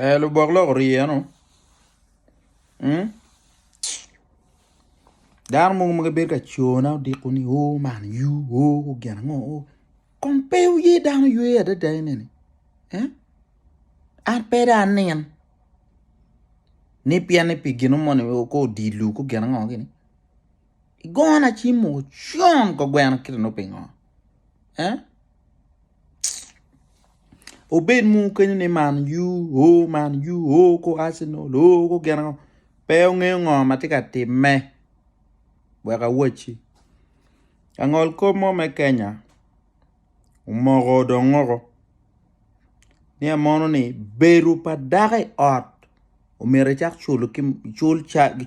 Ee lubok lok orye eno mm dano mogo ma gibedo ka cona odiko ni oo man yuu oo gin ango oo kong pe wuye dano ywe adada enini ee an pe dong anin ni pien ni pi gino moni kong odilo kong gin ango gini. Igona ci moo con ko gweno kite nongo pingo eh obed mono kenyo ni man u oh man u oh ko Arsenal oh ko gin ango pe ongeyo ngo ma tye ka timme wek awacci langol kop mo me Kenya omoko dong ngoko ni en mono ni bedo pa dako i ot omyero icak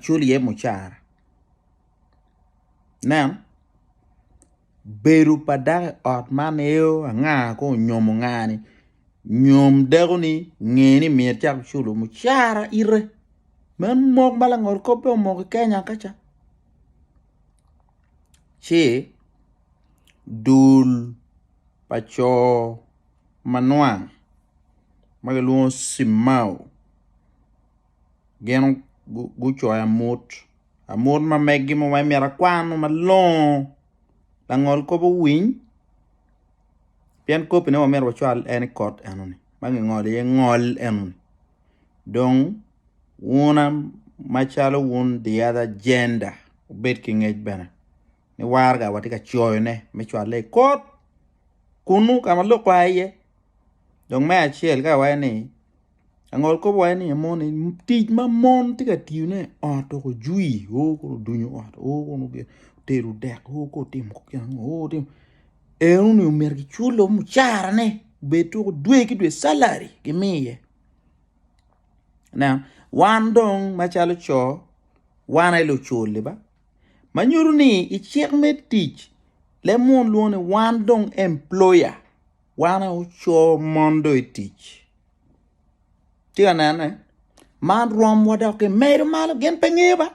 cul iye mucara. Nen, bedo pa dako i ot man eo anga ka onyomo ngani nyom dakoni nge ni myero ecak oculo mucara ite meno mok ma langot kop dong omoko i Kenya ka ca ci dul pa co manwang ma kilwongo cimao. gin gucoyo amut amut ma megi ma weng myero akwanu malongo langol kop owiny pien kopine wa myero wacwal en i kot enoni ma kingolo iye ngol enoni dong wuna macalo wun the other gender wubed ki ngec bene ni warga watye ka coyone me cwale i kot kunu ka ma lok oa iye dong me acel ka iwaco ni Angol kobo wai ni amon en tic ma mon tye ka tiyo ne ot dok ojwi o kor odunyo ot o kor otero dek o kor otimo gin ango o kor otimo en uni omyero ki cule o mucara ne obed tuku dwe ki dwe salary gi miye ineno wan dong ma calo co wan aye lucul ba ma nyuto ni icik me tic leb munu lwongo ni wan dong employer Wan aye oco mon do i tic. Tye ka nene? Man rwomwa dok gimedo malo gin pe ngeyo ba.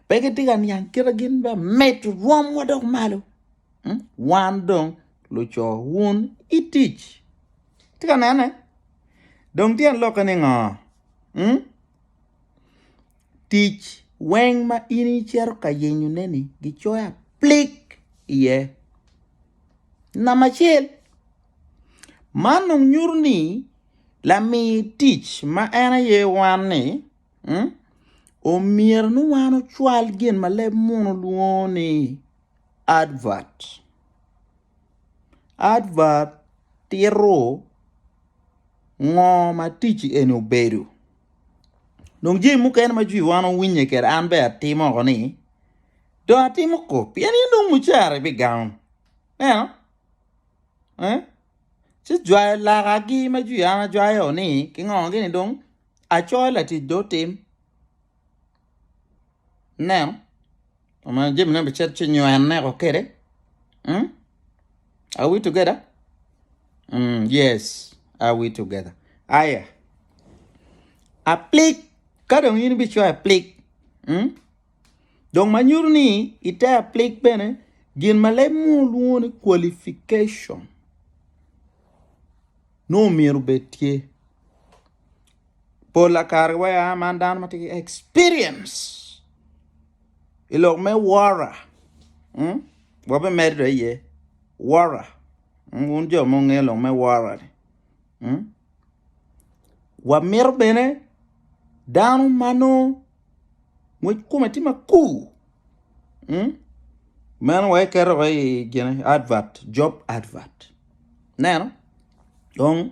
pe gitye ka niang kite gin ba mit rwomwa dok malo. Hmm? Wan dong luco wun i tic. Tye ka nene? Dong tyen lokke ni ngo? Hmm? tic weng ma in icito ka yenyone-ni gicoyo aplik iye. Namba acel, man dong nyuto ni lami tic ma en aye wan-ni omyero ni wan ocwal gin ma leb munu lwongo ni advert. Advert tito ngo ma ticci eni obedo. Dong jami mukene ma jwi wan owinye kede an be atimo oko ni dong atimo ko pien ni nongo mucara bi gango neno eh? ci jwayo lakagi ma jwi an ajwayo ni kingongogi ni dong acoyo latic do otim neno Omeno jami ne bicet ci nywene ko kede. Mm? Are we together? Mm, yes, are we together? Aya. Aplik ka dong in bicoyo aplik. Mm? Dong ma nyuto ni ite aplik bene gin ma leb mo lwongo ni qualification. No myero bed tye. Pola kare wa ya man dano ma tye ki experience i lok me wora. Mm? Wabe medo iye. Wora. Mm, wun jo mo nge lok me wora. Mm? Wa miro bene dano mano ngwec kume tye makur. Mm? Meno wa iketo wa i gene advert, job advert. Neno? Dong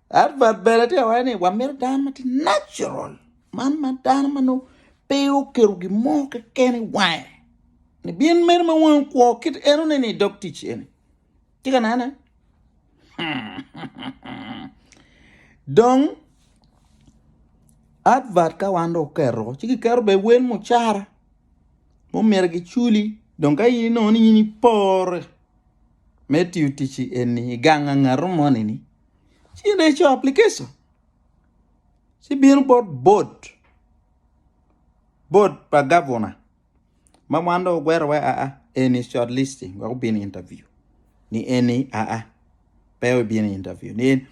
Advert bene tye awacce ni wamito dano ma tye natural man ma dano ma nongo pe oketo gin mo keken i wange ni bin meno ma wangi kwo kit enone ni idog tic eni tye ka nene dong advert ka wan dong oketo ci kiketo bene wel mucara ma omyero giculi dong ka in inongo ni in ipore me tiyo tic eni i gang ngat mo ni ci ireco application ci bino bot bot bot pa gavuna ma wan dong ogwero wa aa eni short listing wek obin interview ni eni aa pe wek ibin interview ni eni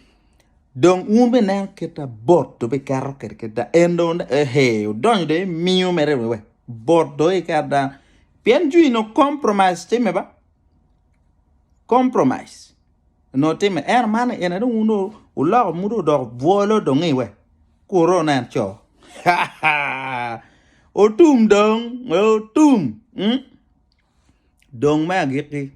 dong wun bene ineno kita bot dong biketo kede kita en dong hee odonyo dong imiyo mere wiwa bot dong iketo dano pien jwi nongo compromise time ba compromise. onongo timme ento man en aye dong wun dong wuloko muto odoko bwolo dong i we kuru wunen co haa otum dong otum mm dong me agikki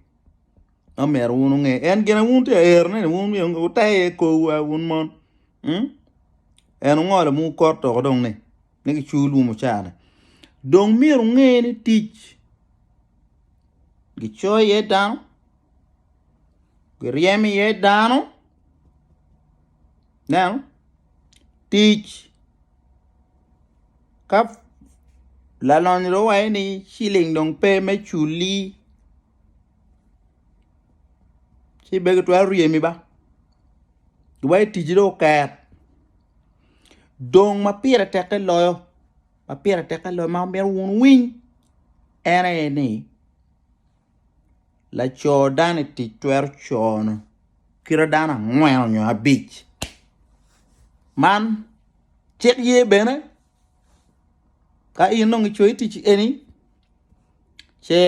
ma myero wun wunge en gin aye wun tye ka ero ne ni wun myero wuter iye kor wa wun mon mm en ongolo ma wukot dong ni. ma gicoyo lum ocara dong myero wunge ni tic gicoyo iye dano giryemo iye dano ineno tic ka lalonyo dong wawaco ni ciling dong pe me culi. ci bene gitwero ryemi ba wai ticci dong oker dong ma pire teke loyo ma pire teke loyo ma myero wun winy en aye ni laco dano i tic twero cono kite dano angwen nyo abic man cik ye bene Ka in dong icoyo i ticci eni ce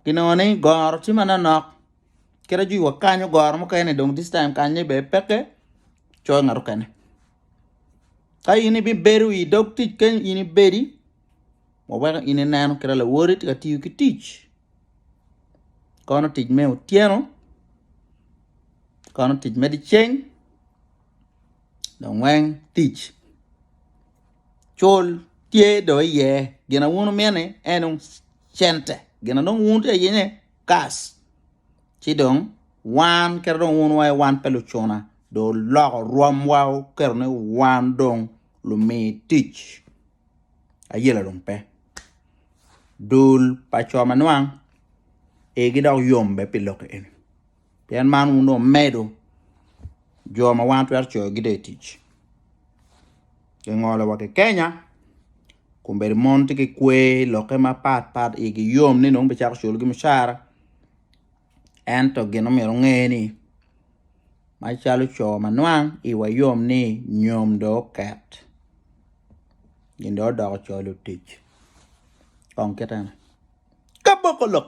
ginongo ni goro tye manonok kadi ci wakanyo goro mukene dong this time kany ni bene peke coyo ngat mukene ka in ibibedo i dog tic kany in ibedi waweko in inen kadi lawoti tye ka tiyo ki tic kono tic me otyeno kono tic me dyeceng. dong weng tic cul tye dong iye gin ma wun wumini en dong cente gin ma dong wun wutye ka yenge cash ci dong wan kadi dong wun wa wan pe lucuna dong oloko rwomwa oketo ni wan dong lumi tic ayela dong pe dul pa co ma nwang igi dok yom bene pi lok eni. Pien man wun dong wumedo jo ma wan twero coyogi dong i tic. Kingolo wa ki Kenya, kun bedo mon tye ki kwer i lokke mapat pat, igi yom ni nongo bicako culogi mucara. Ento gin ma myero wunge ni, macalo co ma nwang, iwa yom ni nyom dong oket, gin dong odoko co lutic. Kong kite ni, Kaboko lok!